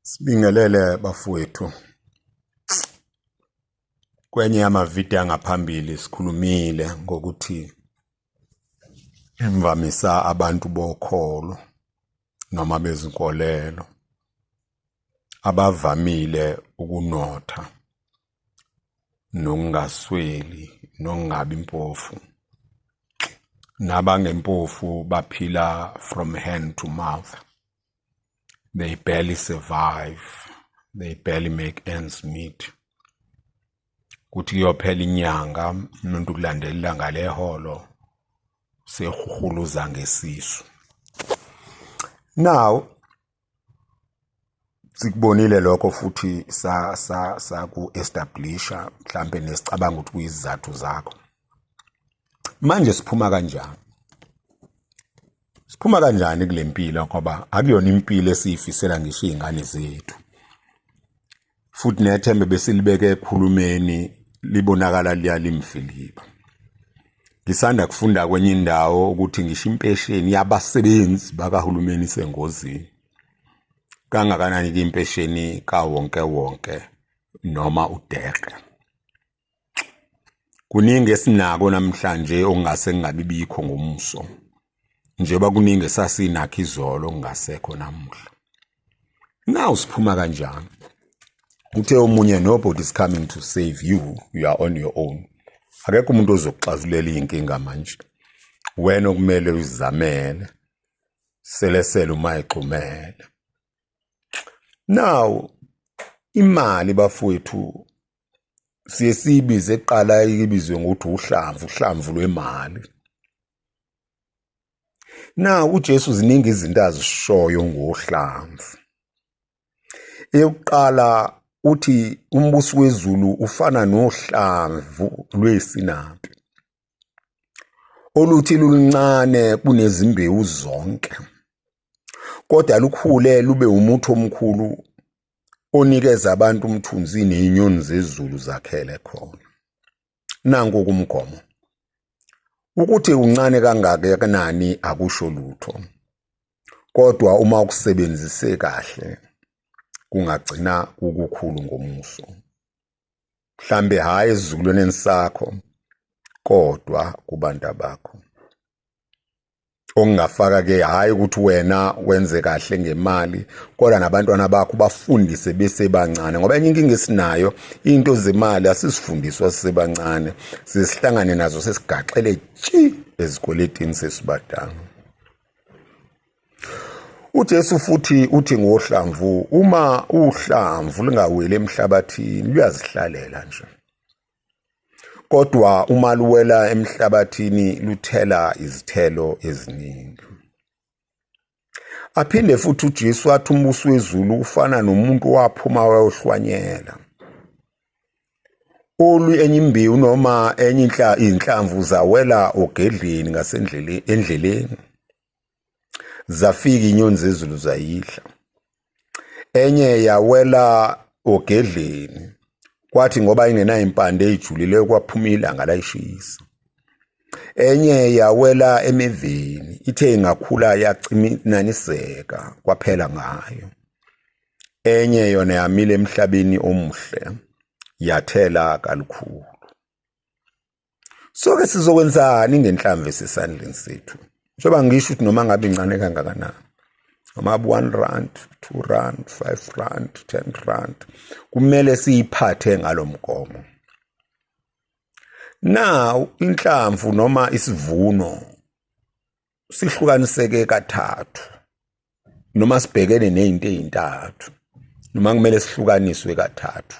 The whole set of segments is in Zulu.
Sibingelele bafowethu. Kwenye yamavidiyo angaphambili sikhulumile ngokuthi imvamisa abantu bokholo noma bezinkolelo abavamile ukunotha nokungasweli nokungabi mpofu nabangempofu baphila from hand to mouth they barely survive they barely make ends meet kuthi kuyophela inyanga umuntu kulandelela ngaleholo sehuhuluza ngesisu now sikubonile lokho futhi sa sa saku establisha mhlambe nesicabanga ukuthi kuyizizathu zakho manje siphuma kanjani siphuma kanjani kule mpilo ngoba akuyona impilo esiyifisela ngisho iy'ngane zethu futhi nethembe besilibeke ekhulumeni libonakala liyalimfiliba ngisanda kufunda kwenye indawo ukuthi ngisho impesheni yabasebenzi bakahulumeni isengozini kangakanani ke impesheni kawonke wonke noma udeke kuningi esinako namhlanje okungase kungabi bikho ngomuso njengoba kuningi esasinakho izolo kungasekho namuhla now siphuma kanjani uthe omunye nobody is coming to save you you are on your own akekho umuntu ozokuxazulela iy'nkinga manje wena okumele uzizamele selesele uma egxumele now imali bafowethu siye siyibize kuqala ibizwe ngokuthi uhlamvu uhlamvu lwemali na uJesu ziningi izinto azishoyo ngohlamvu eyokuqala uthi umbuso wezulu ufana nohlamvu lwesinaphi oluthi luluncane kunezimbewu zonke kodwa lukhule lube umuthi omkhulu onikeza abantu umthunzi nezinyoni zezulu zakhele khona nanku kumgomo ukuthi uncane kangakanani akusho lutho kodwa uma ukusebenzise kahle kungagcina ukukhulu ngomuso mhlambe hayi ezizukulwaneni sakho kodwa kubantu bakho ongafaka ke hayi ukuthi wena wenze kahle ngemali kodwa nabantwana bakho bafundise besebancane ngoba enye inkinga esinayo into zemali asisifundiswa sisebancane sisihlangane nazo sesigaxele tshi ezikweletini sesibadala uJesu futhi uthi ngohlamvu uma uhlamvu lingaweli emhlabathini luyazihlalela nje kodwa uma luwela emhlabathini luthela izithelo eziningi aphinde futhi uJesu wathi umbuso wezulu ufana nomuntu owaphuma wayohlwanyela olu enye imbewu noma enye inhla inhlamvu zawela ogedleni ngasendleleni endleleni zafika inyoni zezulu zayidla enye yawela ogedleni kwathi ngoba ingenayo impande eyijulileyo kwaphuma ilanga layishisa enye yawela emivini ithe ingakhula yacinaniseka kwaphela ngayo enye yona yamile emhlabeni omuhle yathela kalukhulu soke sizokwenzani ngenhlamvu esesandleni sethu njengoba ngisho ukuthi noma ngabe incane kangakanani noma one rand two rand five rand ten rand kumele siyiphathe ngalo mgomo now inhlamvu noma isivuno sihlukaniseke kathathu noma sibhekene nezinto ezintathu noma kumele sihlukaniswe kathathu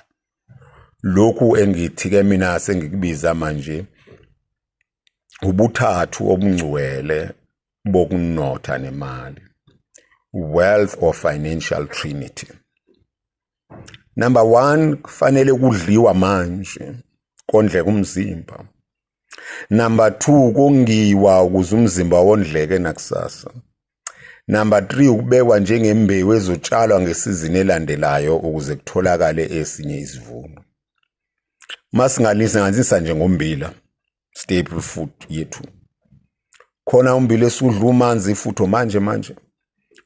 lokhu engithi ke mina sengikubiza manje ubuthathu obungcwele bokunotha nemali wealth or financial trinity number 1 kufanele kudliwa manje kondleka umzimba Number 2 kongiwa ukuze umzimba wondleke nakusasa. Number 3 ukubekwa njengembewu ezotshalwa ngesizini elandelayo ukuze kutholakale esinye isivuno. Masingalisa nganzisa nje ngombila staple food yethu. Khona umbila esudla umanzi futho manje manje.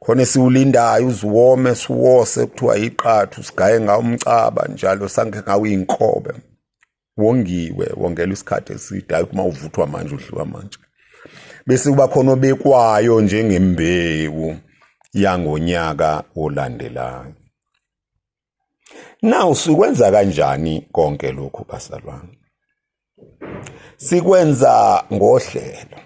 Khona esiwulindayo uziwome siwose kuthiwa iqathu sigaye ngawo umcaba njalo sanke ngawo inkobe. wongiwe wongelwa isikhathi eside hayi uma uvuthwa manje udliwa manje bese kuba khona obekwayo njengembewu yangonyaka olandelayo now sikwenza kanjani konke lokhu basalwane sikwenza ngohlelo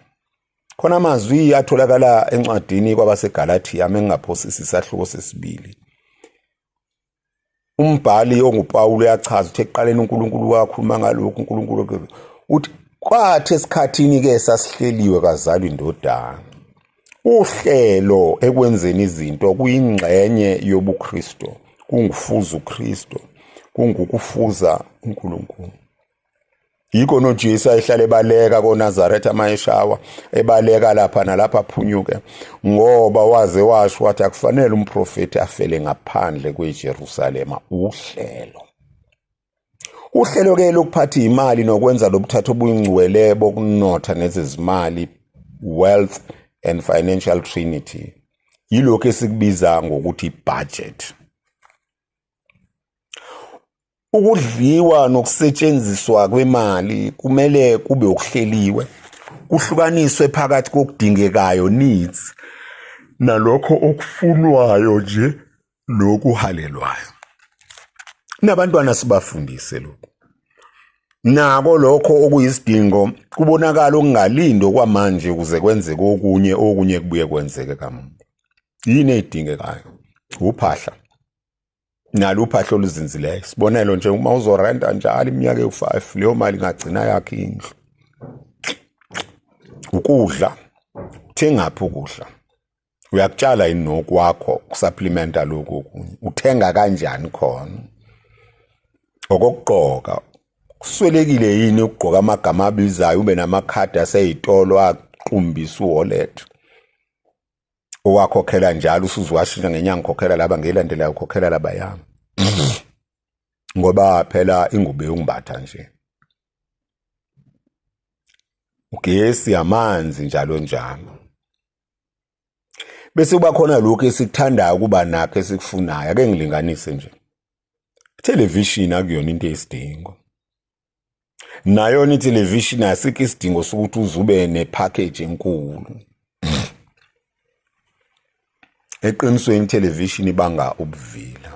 khona amazwi atholakala encwadini kwabaseGalatia mengingaphosisi isahluko sesibili umbhali onguPawulu uyachaza ukuthi ekuqaleni uNkulunkulu wakhuluma ngalokhu uNkulunkulu uthi kwathi esikhathini ke sasihleliwe kazalwa indodana uhlelo ekwenzeni izinto kuyingxenye yobuKristo kungufuza uKristo kungukufuza uNkulunkulu yikho noJesu ayehlala ebaleka koNazaretha mayeshawa ebaleka lapha nalapha aphunyuke ngoba waze washo wathi akufanele umprofeti afele ngaphandle kweJerusalema uhlelo uhlelo ke lokuphatha imali nokwenza lobuthatha obuyingcwele bokunotha nezezimali wealth and financial trinity yilokho esikubiza ngokuthi budget Ukudliwa nokusetshenziswa kwemali kumele kube okuhleliwe, kuhlukaniswe phakathi kokudingekayo, needs, nalokho okufunwayo nje nokuhalelwayo. Nabantwana sibafundise lokhu. Nako lokho okuyisidingo kubonakala okungalindi okwamanje ukuze kwenzeke okunye, okunye kubuye kwenzeke kamuva. Yini edingekayo? Uphahla, nalo uphahla oluzinzileyo sibonelo nje uma uzorenta njalo iminyaka ewu-5 leyo mali ingagcina yakhe indlu ukudla uthengaphi ukudla uyakutshala yini nokwakho kusapplementa lokhu okunye uthenga kanjani khona okokugqoka kuswelekile yini ukugqoka amagama abizayo ube namakhadi aseyitolo aqumbisa uwallet owakhokhela njalo usuze washintsha ngenyanga ukhokhela laba ngelandelayo ukhokhela laba yami ngoba phela ingubo yongibatha nje ugesi amanzi njalo njalo bese kuba khona lokho esikuthandayo ukuba nakho esikufunayo ake ngilinganise nje television akuyona into esidingo nayona ithelevishini asikho isidingo sokuthi uzube nepackage enkulu eqinisweni ithelevishini ibanga ubuvila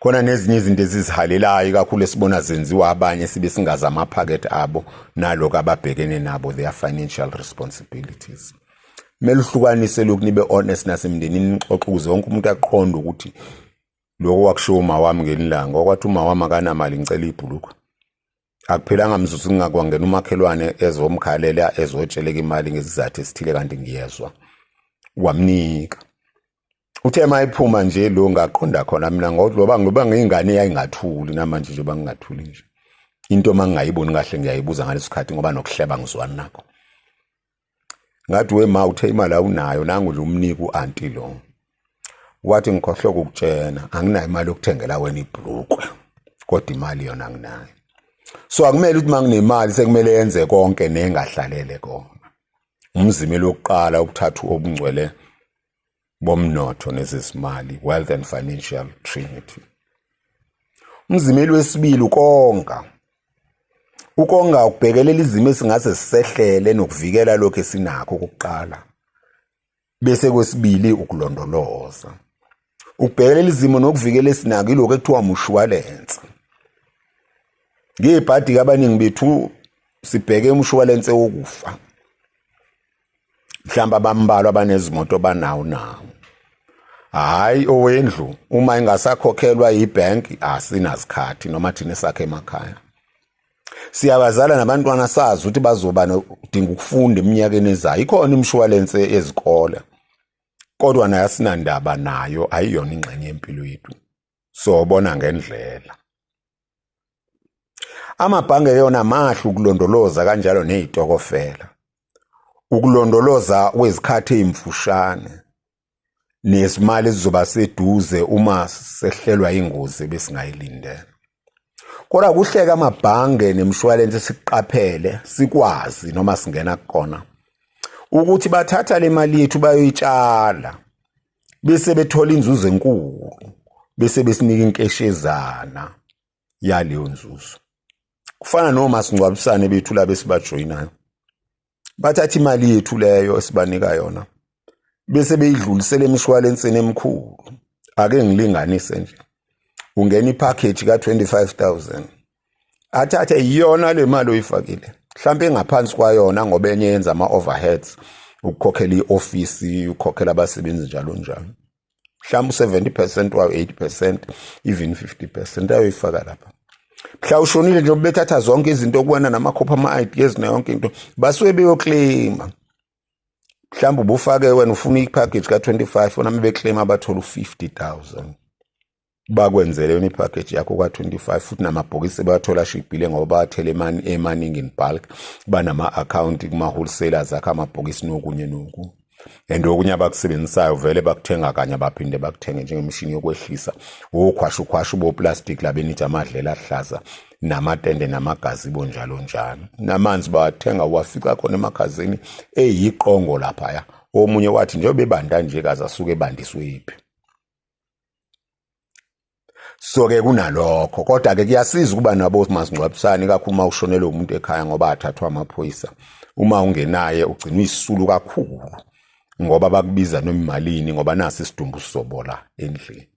khona nezinye izinto ezizihalelayo kakhulu esibona zenziwa abanye sibe singazi amaphakethe abo naloko ababhekene nabo their financial responsibilities kumele uhlukanise lokhu nibe honest nasemndenini nixoxe ukuze wonke umuntu aqonde ukuthi Lokho wakushiwo umawami ngelilanga okwathi umawami akanamali ngicela ibhulukwe. Akuphelanga mzuzu ngingakwangena umakhelwane ezomkhalela ezotsheleka imali ngesizathu esithile kanti ngiyezwa. Wamnika. Uthe mayiphuma nje lo ngaqonda khona mina ngokuthi loba ngoba ngiyingane yayingathuli namanje nje bangingathuli nje. Into mangingayiboni kahle ngiyayibuza ngalesikhathi ngoba nokuhleba ngizwana nakho. ngathi we ma uthe imali awunayo nangu nje umnika u-anti lo wathi ngikhohlwe kukutshena anginayo imali yokuthengela wena ibhlukwe kodwa imali yona anginayo so akumele ukuthi uma nginemali sekumele yenze konke nengahlalele kona umzimela wokuqala ukuthatha obungcwele bomnotho nezezimali, wealth and financial trinity. Umzimeli wesibili ukonga. Ukonga ukubhekelela izimo esingase sisehlele nokuvikela lokho esinakho kokuqala. Bese kwesibili ukulondoloza. Ukubhekelela izimo nokuvikela esinako ilokho ekuthiwa umshwalense. Ngiyibhadi kabaningi bethu sibheke umshwalense wokufa. mhlawumbe abambalwa abanezimoto banawo nawo hayi owendlu uma ingasakhokhelwa yibhenki asinasikhathi noma thina sakhe emakhaya siyabazala nabantwana sazi ukuthi bazoba nodinga ukufunda eminyakeni ezayo ikhona imshuwalense ezikole kodwa nayo asinandaba nayo ayiyona ingxenye yempilo yethu sobona ngendlela Amabhange yona mahle ukulondoloza kanjalo nezitokofela. Ukulondoloza kwezikhathi ezimfushane nesimali sizoba seduze uma sehlelwa ingozi besingayilindele. Kodwa kuhleka amabhange nemshwalense siqaphele sikwazi noma singena kukona ukuthi bathatha le mali yethu bayoyitshala bese bethola inzuzo enkulu bese besinika inkeshezana yaleyo nzuzo kufana nomasingcwabisane bethu laba esibajoyinayo bathatha imali yethu leyo esibanika yona bese beyidlulisela emishwalensini emikhulu ake ngilinganise nje ungena ipackage ka 25000 athathe iyona le mali oyifakile mhlawumbe ingaphansi kwayona ngoba enye yenza ama-overheads ukukhokhela i-ofisi ukukhokhela abasebenzi njalo njalo mhlawumbe u-70 percent wayo 80 percent even 50 percent ayoyifaka lapha mhla ushonile nje bethatha zonke izinto kuwena namakhopha ama-ideas nayonke into basuke beyokleyima mhlawumbe ubufake wena ufuna ipackage ka-25 oname bekleyima abathole u-50 000 bakwenzele yona ipackage yakho ka25 futhi namabhokisi bathola shibhile ngoba bathele imani emaningi in bulk banama account kuma wholesalers akha amabhokisi nokunye noku and okunye abakusebenzisayo vele bakuthenga kanye abaphinde bakuthenge njengemishini yokwehlisa wokhwasha ukhwasha uboplastic labenitsha amadlela ahlaza namatende namagazi bo njalo njalo namanzi bawathenga wafica khona emakhazini eyiqongo laphaya omunye wathi njengoba ebanda nje kaze asuke ebandiswe yiphi so ke kunalokho kodwa ke kuyasiza ukuba nabo masingcwabisane kakhulu uma ushonelwe umuntu ekhaya ngoba athathwa amaphoyisa uma ungenaye ugcina uyisulu kakhulu ngoba bakubiza noma imalini ngoba nasi isidumbu sizobola endlini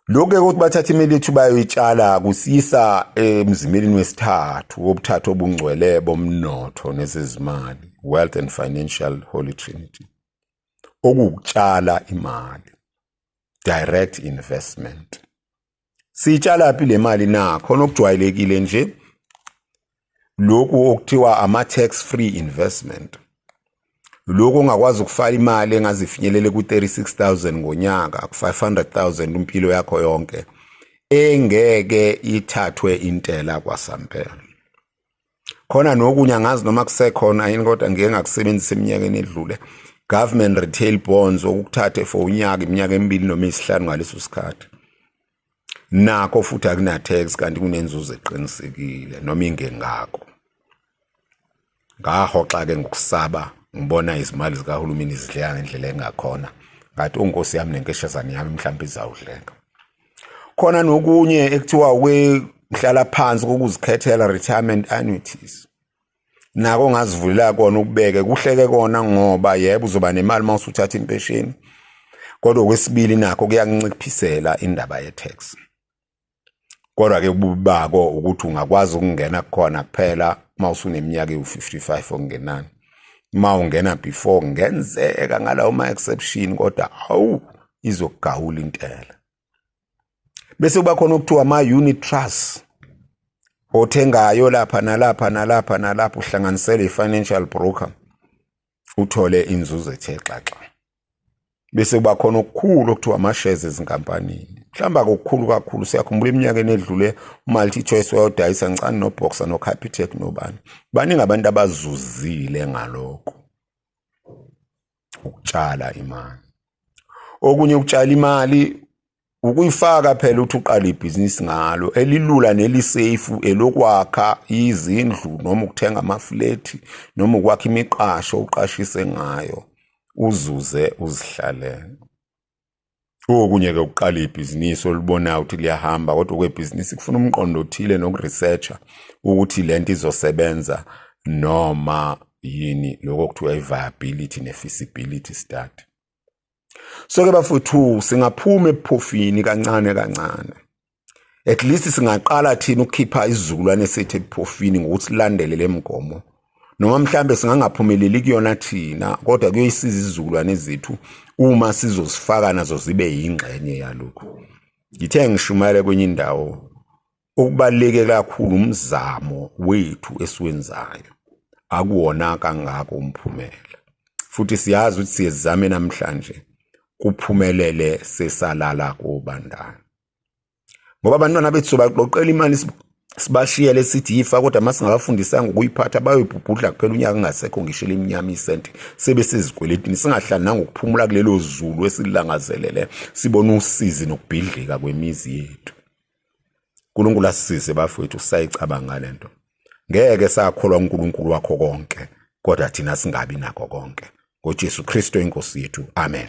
lokho ukuthi bathatha imali yethu bayoyitshala kusiyisa emzimeleni wesithathu wobuthathu obungcwele bomnotho nezezimali wealth and financial holy trinity okuwukutshala imali direct investment siyitshala phi le mali na khona okujwayelekile nje lokhu okuthiwa ama tax free investment lokho ongakwazi ukufaka imali engazifinyelele ku-36000 ngonyaka ku-500000 impilo yakho yonke engeke ithathwe intela kwasampela khona nokunye angazi noma kusekhona yini kodwa ngike ngakusebenzisa eminyakeni edlule government retail bonds okuthathe for unyaka iminyaka emibili noma isihlanu ngaleso sikhathi nakho futhi akunathex kanti kunenzuzo eqinisekile noma ingengako ngahoxa ke ngokusaba ngibona izimali zikahulumeni zidleka ngendlela engakhona ngathi unkosi yami nenkeshazane yami mhlawumbe izawudleka khona nokunye ekuthiwa ukuhlala phansi kokuzikhethela retirement annuities nako ngazivulela kona ukubeke kuhleke kona ngoba yebo uzoba nemali uma usuthatha impesheni kodwa okwesibili nakho kuyakunciphisela indaba ye-tax kodwa-ke ububi bako ukuthi ungakwazi ukungena kukhona kuphela uma usuneminyaka ewu-55 okungenani uma ungena before ngenzeka ngalawo ma-exception kodwa awu izokugawula intela bese kuba khona okuthiwa ama-unit trust othengayo lapha nalapha nalapha nalapha uhlanganisele i-financial broker uthole inzuzo ethe xaxa bese kuba khona okukhulu okuthiwa ama-shares ezinkampanini mhlawumbe akukhulu kakhulu siyakhumbula eminyakeni edlule umalti-choice wayodayisa ngicani noboxer nocapitec nobani baningi abantu abazuzile ngalokho ukutshala imali okunye ukutshala imali ukuyifaka phela uthi uqala ibhizinisi ngalo elilula nelisafe elokwakha izindlu noma ukuthenga amaflethi noma ukwakha imiqasho uqashise ngayo uzuze uzihlalele okunye-ke ukuqala ibhizinisi olibonayo ukuthi liyahamba kodwa okwebhizinisi kufuna umqondo othile nokuresearcha ukuthi le nto izosebenza noma yini lokho kuthiwa i-viability ne-feasibility study so-ke bafuthu singaphuma ebuphofini kancane kancane at least singaqala thina ukukhipha isizukulwane sethu ebuphofini ngokuthi silandele le mgomo noma mhlambe singangaphumeleli kuyona thina kodwa kuyoyisiza izizukulwane zethu uma sizozifaka nazo zibe yingxenye yalokhu ngithe ngishumayele kwenye indawo okubaluleke kakhulu umzamo wethu esiwenzayo akuwona kangako umphumela futhi siyazi ukuthi siyezame namhlanje kuphumelele sesalala kobandana ngoba abantwana bethu sobaqoqela imali sibashiyele sithi yifa kodwa uma singabafundisanga ukuyiphatha bayoyibhubhudla kuphela unyaka ungasekho ngisho elimnyama isenti sebe sezikweletini singahlananga ukuphumula kulelo zulu esilangazelele sibone usizi nokubhidlika kwemizi yethu uNkulunkulu asisize bafowethu sisayicabanga le nto ngeke sakholwa uNkulunkulu wakho konke kodwa thina singabi nako konke ngoJesu Kristo inkosi yethu amen